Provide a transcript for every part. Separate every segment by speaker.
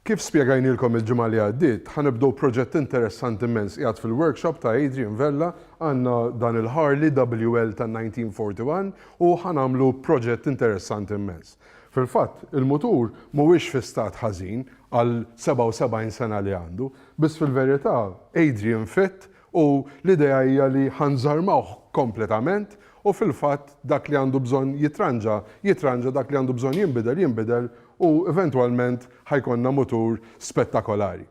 Speaker 1: Kif spjegajnielkom il-ġimgħa li għaddiet, ħa nibdew proġett interessanti mmens qiegħed fil-workshop ta' Adrian Vella, għandna dan il-Harley WL tan-1941 u ħa nagħmlu proġett interessanti mmens. Fil-fatt, il-mutur mhuwiex fi stat ħażin għal 77 sena li għandu, biss fil-verità Adrian fit U l-idea hija li ħa nżarmawh kompletament u fil-fatt dak li għandu bżonn jitranġa, jitranġa, dak li għandu bżonn jinbidel, jinbidel u eventwalment ħa jkollna mutur spettakolari.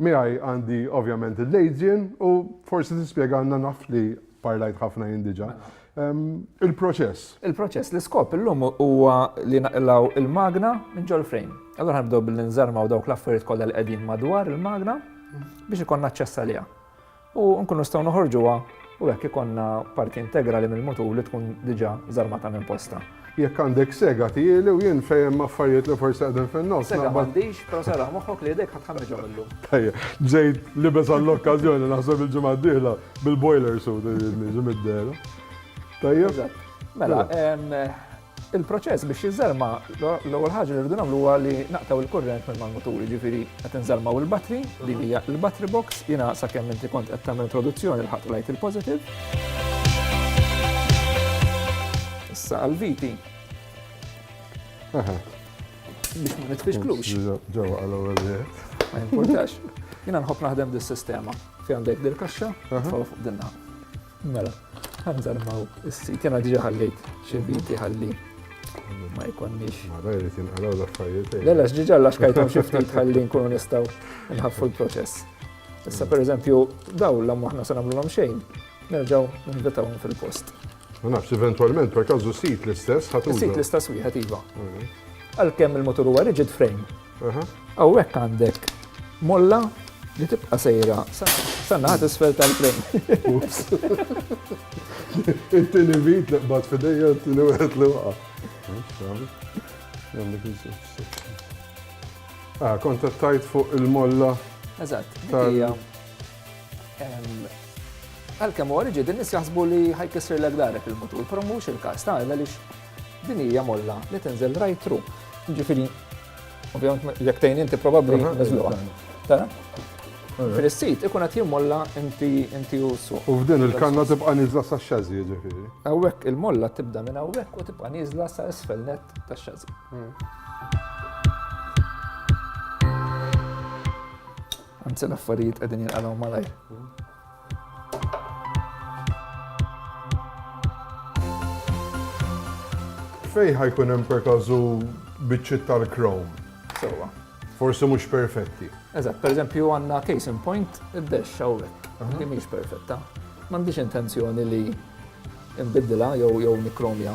Speaker 1: Miegħi għandi ovvjament il-Leydien u forsi tispjegalna, naf li parlajt ħafna jien diġà, Il-proċess. Il-proċess,
Speaker 2: l-iskop illum huwa li naqilgħu il-magna minn ġol frame. Allura ħanibdew billi nżarmaw dawk l-affarijiet kollha li qegħdin madwar il-magna biex ikonna aċċess għaliha. U nkunu nistgħu noħorġuha u hekk ikonna parti integrali mill-mutur li tkun diġà żarmata minn posta. Jekk għandek
Speaker 1: sega tgħieli u jien fejn hemm affarijiet li forsi qegħdin fin-nofs naqbad. Sega m'għandix, però
Speaker 2: serraħ moħħok li idejk ħa tħammġhom illum. Tajjeb, bżejt
Speaker 1: libes għall-okkażjoni naħseb il-ġimgħa d-dieħla bil-boiler suit irid niġi mid-dehra. Tajjeb. Mela,
Speaker 2: il-proċess biex jiżżerma l-ewwel ħaġa li rridu nagħmlu huwa li naqtaw il-kurrent minn mal-mutur, jiġifieri qed inżarmaw il-battery li hija l-battery box, jiena sakemm inti kont qed tagħmel introduzzjoni l-ħadd lajt il-positive. Issa għal-viti. Biex ma nitfixklux. Ġewa għal-ewwel
Speaker 1: Ma jimpurtax.
Speaker 2: Jina nħob naħdem dis-sistema. Fi għandek dil-kaxxa, tfaw fuq dinna. Mela, għanżar maw is-sit, jena diġa ħallejt xibiti ħalli ma jkonniex. Ma dajri tinqalaw
Speaker 1: l-affarijiet. Lela, ġiġa l-axkajtom
Speaker 2: xiftit ħalli nkunu nistaw nħaffu l-proċess. Issa per eżempju, daw l aħna se nagħmlu l xejn, nerġaw nivvitawhom fil-post. Ma nafx,
Speaker 1: eventualment, per kazu sit l-istess ħatu. Sit l-istess wieħed iva.
Speaker 2: Għalkemm il-motur huwa rigid frame. Hawnhekk għandek molla li tibqa' sejra sanna ħad isfel tal-frame.
Speaker 1: It-tieni vit li qbad fidejja t-tieni wieħed li waqa'. Ah, kontattajt fuq il-molla. Eżatt, tal
Speaker 2: Għalkemm huwa riġi din jaħsbu li ħajkisser l darek il-mutur, però mhux il-każ ta' għaliex din hija molla li tinżel right through. Ġifieri, ovvjament jekk tgħin inti probabbli niżluha. Tara? Fil-sit ikun qed jimmolla inti inti u su. U f'din il-kanna tibqa'
Speaker 1: niżla sa xażi ġifieri. Hawnhekk il-molla
Speaker 2: tibda minn hawnhekk u tibqa' niżla sa isfel net tax-xażi. Anzi l-affarijiet qegħdin jinqalgħu malajr.
Speaker 1: Fej ħajkun hemm per każu biċċiet tal-krom. Sewwa.
Speaker 2: Forsi mhux
Speaker 1: perfetti. Eżatt, pereżempju
Speaker 2: għandna case in point id-dex hawnhekk. Li mhix perfetta. M'għandix intenzjoni li nbiddilha jew jew nikromja.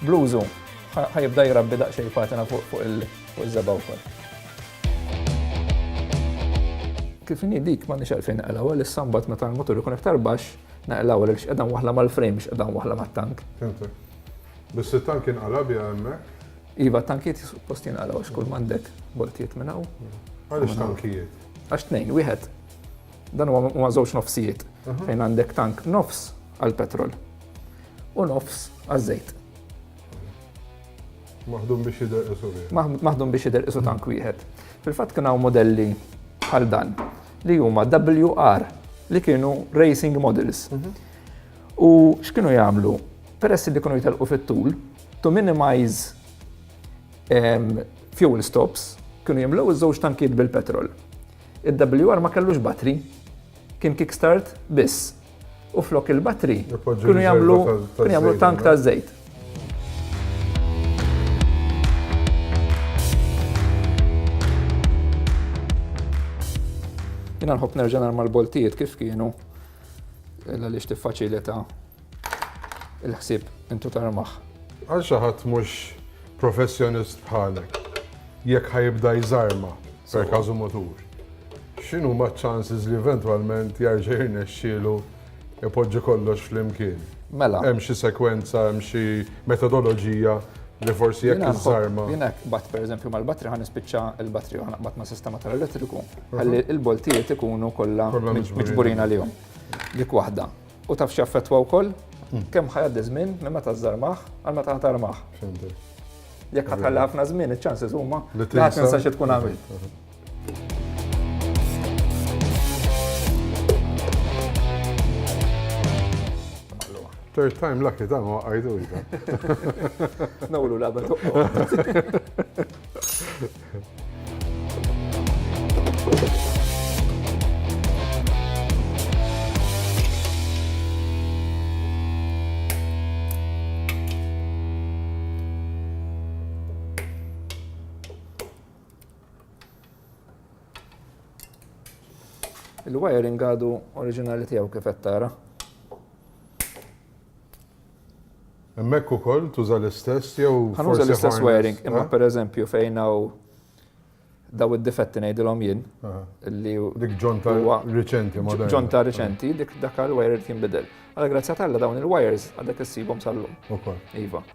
Speaker 2: Bluzu, ħajibda jirabbi daqxej patina fuq il-żeba wkoll. Kif inni dik ma nix għalfejn naqlaw għal sambat meta l-motor ikun iktar baxx naqlaw għal x'qedan waħla mal-frame x'qedan waħla mat-tank.
Speaker 1: Biss it-tank inqala biha hemmhekk? Iva, tankiet
Speaker 2: suppost jinqala għax kull mandek boltijiet minn hawn. Għaliex tankijiet?
Speaker 1: Għax tnejn, wieħed.
Speaker 2: Dan huwa ma żewġ nofsijiet fejn għandek tank nofs għal petrol. u nofs għaż-żejt.
Speaker 1: Maħdum biex jidher isu wieħed. Maħdum biex jidher isu
Speaker 2: tank wieħed. Fil-fatt kien hawn modelli bħal dan li huma WR li kienu racing models. Mhm. U x'kienu jagħmlu? Peress li kienu jitalqu fit-tul, to minimize um, fuel stops, kienu jimlew iż-żewġ tankiet bil-petrol. Il-WR ma kellux batri, kien kickstart biss. u flok il-batri kienu jagħmlu tank ta' żejt. Jina nħobb nerġa' narma l-boltijiet kif kienu illa li tiffaċilita il-ħsieb intu tarmaħ. Għal xi ħadd
Speaker 1: mhux Professjonist bħalek, jekk ħa jibda jżarma, per każu mutur, x'inhuma ċ-chances li eventwalment jerġa' jirnexxielu ipoġġi kollox flimkien? Mela. Hemm xi
Speaker 2: sekwenza,
Speaker 1: hemm xi metodoloġija li forsi jekk iżżarma. Jiena bat pereżempju
Speaker 2: mal-batri ħan nispiċċa l-batri ħan naqbad ma' sistema tal-elettriku, ħalli l-boltijiet ikunu kollha miġburin għalihom. Dik waħda. U taf x'jaffettwa wkoll? Hmm. Kemm ħajaddi żmien minn meta żarmaħ għal meta ħatarmaħ. Jekk ħatħalli ħafna żmien, iċ-ċanses huma li ħadd ninsa xi tkun għamil. Third
Speaker 1: time lucky dan ma għajdu jda. Nawlu label.
Speaker 2: il-wiring għadu oriġinali tiegħu kif qed tara.
Speaker 1: Hemmhekk ukoll tuża l-istess jew Ħanuża l-istess wiring,
Speaker 2: imma eh? pereżempju fejn hawn daw id-difetti ngħidilhom jien eh. li dik ġonta
Speaker 1: riċenti moderna. Ġonta riċenti dik
Speaker 2: dak il-wire kien bidel. Għal grazzja talla dawn il-wires għadek issibhom sal-lum. Ukoll. Iva.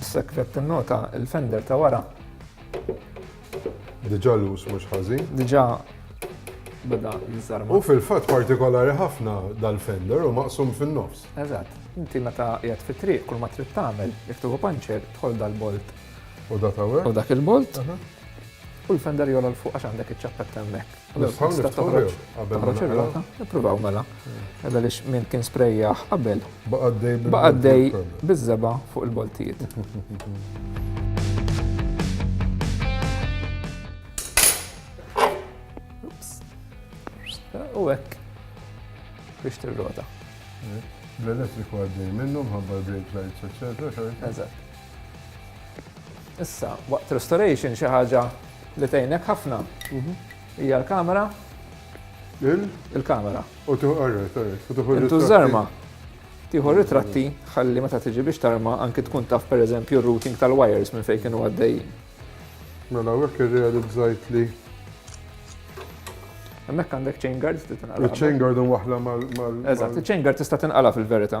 Speaker 2: Is-sekret tinnota l-fender ta' wara.
Speaker 1: Diġà lus mhux ħażin. Diġà
Speaker 2: beda jiżarma. U
Speaker 1: fil-fatt
Speaker 2: partikolari
Speaker 1: ħafna dal-fender u maqsum fin-nofs. Eżatt. Inti
Speaker 2: meta qiegħed fit-triq kull ma trid tagħmel, jekk tieħu panċer, tħol dal-bolt. U dak hawn?
Speaker 1: U dak il-bolt.
Speaker 2: U l-fender jola l fuq għax għandek iċ-ċappetta hemmhekk. Nistgħu niftħu jew qabel ma naqra? Ippruvaw mela. Għadha li min kien sprejjaħ qabel. Baqaddej Baqaddej biż-żeba fuq il-boltijiet. U hekk biex tirrota.
Speaker 1: L-elettriku għaddej minnhom, ħabba l-brake lights, eccetera. Eżatt.
Speaker 2: Issa, waqt restoration xi ħaġa li tgħinek ħafna. Mhm. Hija l-kamera. Il? Il-kamera. U tuħu għarret, għarret.
Speaker 1: U tuħu Intu żarma.
Speaker 2: Tiħu ritratti ħalli meta tiġi biex tarma anki tkun taf per eżempju routing tal-wires minn fejn kienu għaddejjin. Mela
Speaker 1: għek irrealizzajt li.
Speaker 2: Hemmhekk għandek chain guard tista' tinqala. Chain guard waħla
Speaker 1: mal. Eżatt, chain guard
Speaker 2: tista' tinqala fil-verità.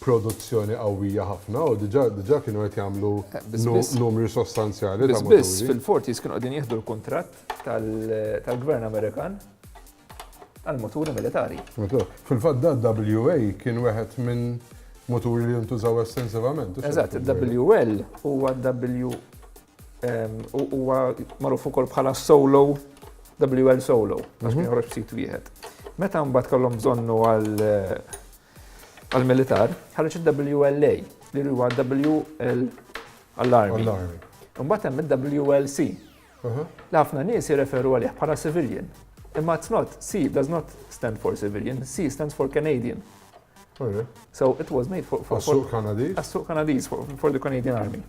Speaker 1: produzzjoni qawwija ħafna u diġà diġà kienu qed jagħmlu numri sostanzjali ta' muturi. Biss biss fil-Forties kienu qegħdin
Speaker 2: jieħdu l-kuntratt tal-Gvern Amerikan għal muturi militari. Fil-fatt da
Speaker 1: WA kien wieħed minn muturi li jintużaw estensivament. Eżatt,
Speaker 2: WL huwa W Huwa magħruf ukoll bħala solo WL solo, għax kien joħroġ b'sit wieħed. Meta mbagħad kellhom bżonnu għall-militar, ħareġ il-WLA, li huwa WL għall-armi. Mbagħad hemm il-WLC. Li ħafna nies jirreferu għalih bħala civilian. Imma it's not, C does not stand for civilian, C stands for Canadian. So it was made for... Għas-suq Kanadiz? Għas-suq
Speaker 1: Kanadiz,
Speaker 2: for the Canadian Army.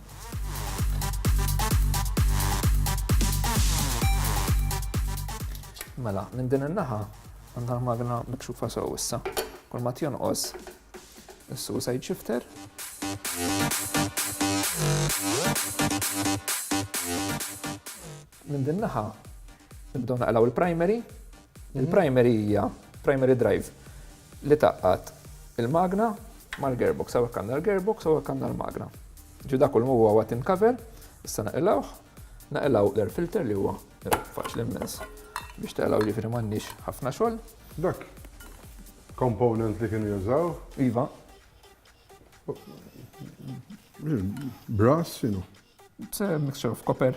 Speaker 2: Mela, minn din il-naħa, għandha magna mikxufa sew issa. Kol ma tjonqos, is-suicide shifter. Minn din naħa nibdew naqlgħu l-primary. Il-primary hija primary drive li tgħaqqad il-magna mal-gearbox. Hawnhekk għandna l-gearbox, hawnhekk għandna l-magna. Ġi dak kollu huwa watin cover, issa naqilgħuh, naqilgħu l-air filter li huwa faċli immens biex taqilgħu ġifieri m'għandniex ħafna xogħol. Dak
Speaker 1: component li kienu jużaw? Iva. Brass, xinu?
Speaker 2: It's a mixture of copper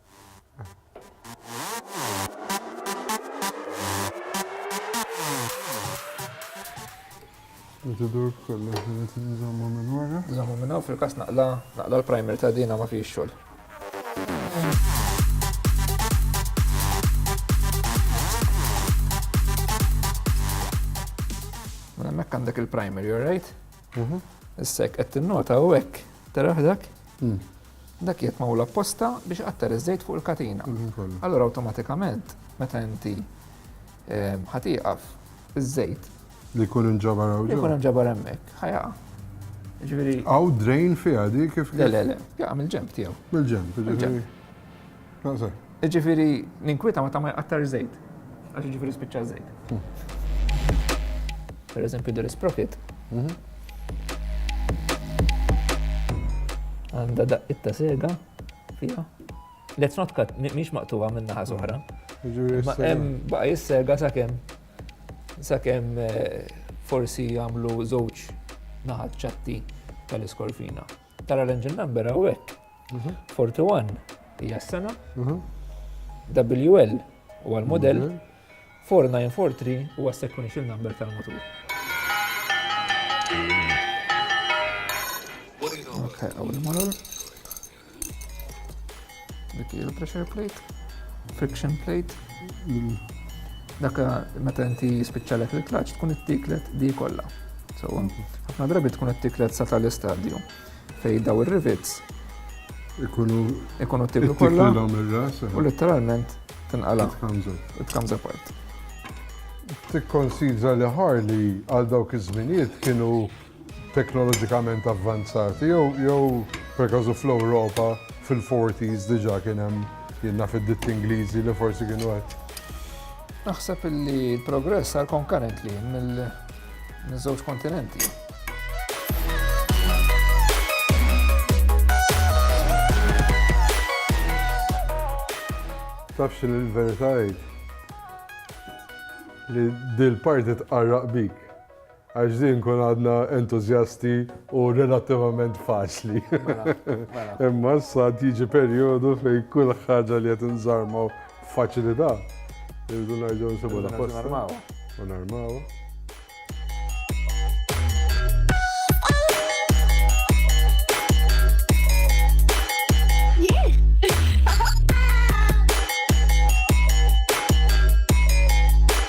Speaker 1: Tidur kollu ġiet nżommu minn wara. Nżommu minn hawn fil-każ
Speaker 2: naqla naqla l-primer ta' dina ma fiex xogħol. Mela hemmhekk għandek il-primer, you're right? Mhm. Issa jekk qed tinnota u hekk taraħ dak, mm. dak jekk ma' apposta biex qatter iż-żejt fuq il-katina. Mhm, allora awtomatikament meta inti ehm, ħatiqaf iż-żejt. Li jkun
Speaker 1: inġabar hawn. Li jkun inġabar hemmhekk,
Speaker 2: ħajaqa. Ġifieri. Aw drain
Speaker 1: fiha di kif. Le le le, jaqa' mill-ġemp
Speaker 2: tiegħu. Mill-ġemp, ġifieri.
Speaker 1: Iġifiri,
Speaker 2: ninkwieta ma ta' ma jqattar żejt. Għax iġifiri spiċċa żejt. Per eżempju, dir isprofit. Mhm. Għanda daqqit ta' sega fija. Let's not cut, miex maqtuwa minna ħaz uħra. Ma hemm baqa jissega sakemm sakemm eh, forsi jagħmlu żewġ naħat ċatti tal-iskorfina. Tara l-engine number għawek. 41 hija s-sena. WL u għal-model. 4943 huwa sequential number tal-motur. Okay, għaw il-motor. Dik hi l-pressure plate, friction plate. Mm. Dak meta inti jispiċċalek il-klaċ tkun it-tiklet di kollha. So, mm-hmm. ħafna drabi tkun it-tiklet sa tal-istadju fej daw ir-rivits ikunu ikunu tiklu kollha eh. u letteralment tinqala. It comes apart. Tikkonsidra
Speaker 1: li ħarli għal dawk iż-żminijiet kienu teknoloġikament avvanzati jew jew perkażu fl-Ewropa fil-forties diġà kien hemm jien naf id-ditti Ingliżi li forsi kienu qed Naħseb
Speaker 2: illi l-progress sar konkarentli mill-żewġ kontinenti.
Speaker 1: Tafx li l-verità li dil-parti tqarraq bik. Għax din kun għadna entużjasti u relattivament faċli. Mela, mela. Imma issa tiġi perjodu fejn kull ħaġa li qed inżarmaw faċilità. Irridu nerġgħu nsibu la posta. U narmaw.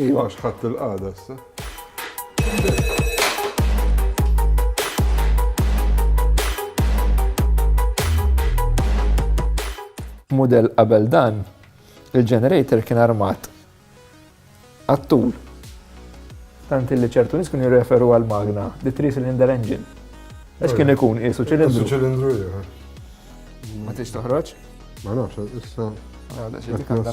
Speaker 1: Iva għax ħadd il-qagħda issa.
Speaker 2: Mudell qabel dan, il-generator kien armat għattul. Tant li ċertu nis kien jirreferu għal magna, di 3 cylinder engine. Għax kien ikun isu ċilindru. Isu ċilindru,
Speaker 1: jgħu. Ma
Speaker 2: tix toħroċ? Ma nafx,
Speaker 1: issa. Għada, xie dik
Speaker 2: għandha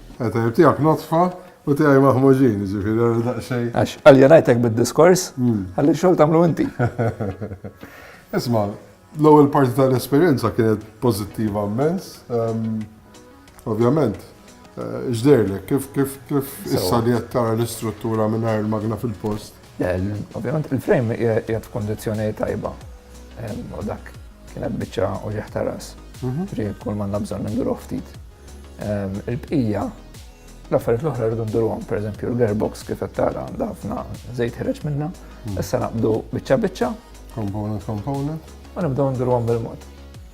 Speaker 1: Eh, tajjeb, tiegħek notfa u tiegħi maħmuġin, ġifieri għal daqsxejn. Għax aljenajtek
Speaker 2: bid-diskors, hmm. għalli xogħol tagħmlu inti.
Speaker 1: Isma', l-ewwel parti tal-esperjenza kienet pożittiva immens. Ehm, ovvjament, eh, ġderlek, kif kif kif issa li qed tara l-istruttura mingħajr il-magna fil-post.
Speaker 2: Ovvjament il-frame qiegħed
Speaker 1: f'kundizzjoni
Speaker 2: tajba. U dak kienet biċċa u ġieħ ta' ras. Mhm. Ġri kull manna bżonn ninduru ftit. Il-bqija, l-affarijiet l-oħra rridu nduruhom, pereżempju l-gearbox kif qed tara għandha ħafna żejt ħireġ minna, mhm. issa naqbdu biċċa biċċa. Component
Speaker 1: component. U
Speaker 2: nibdew nduruhom bil-mod.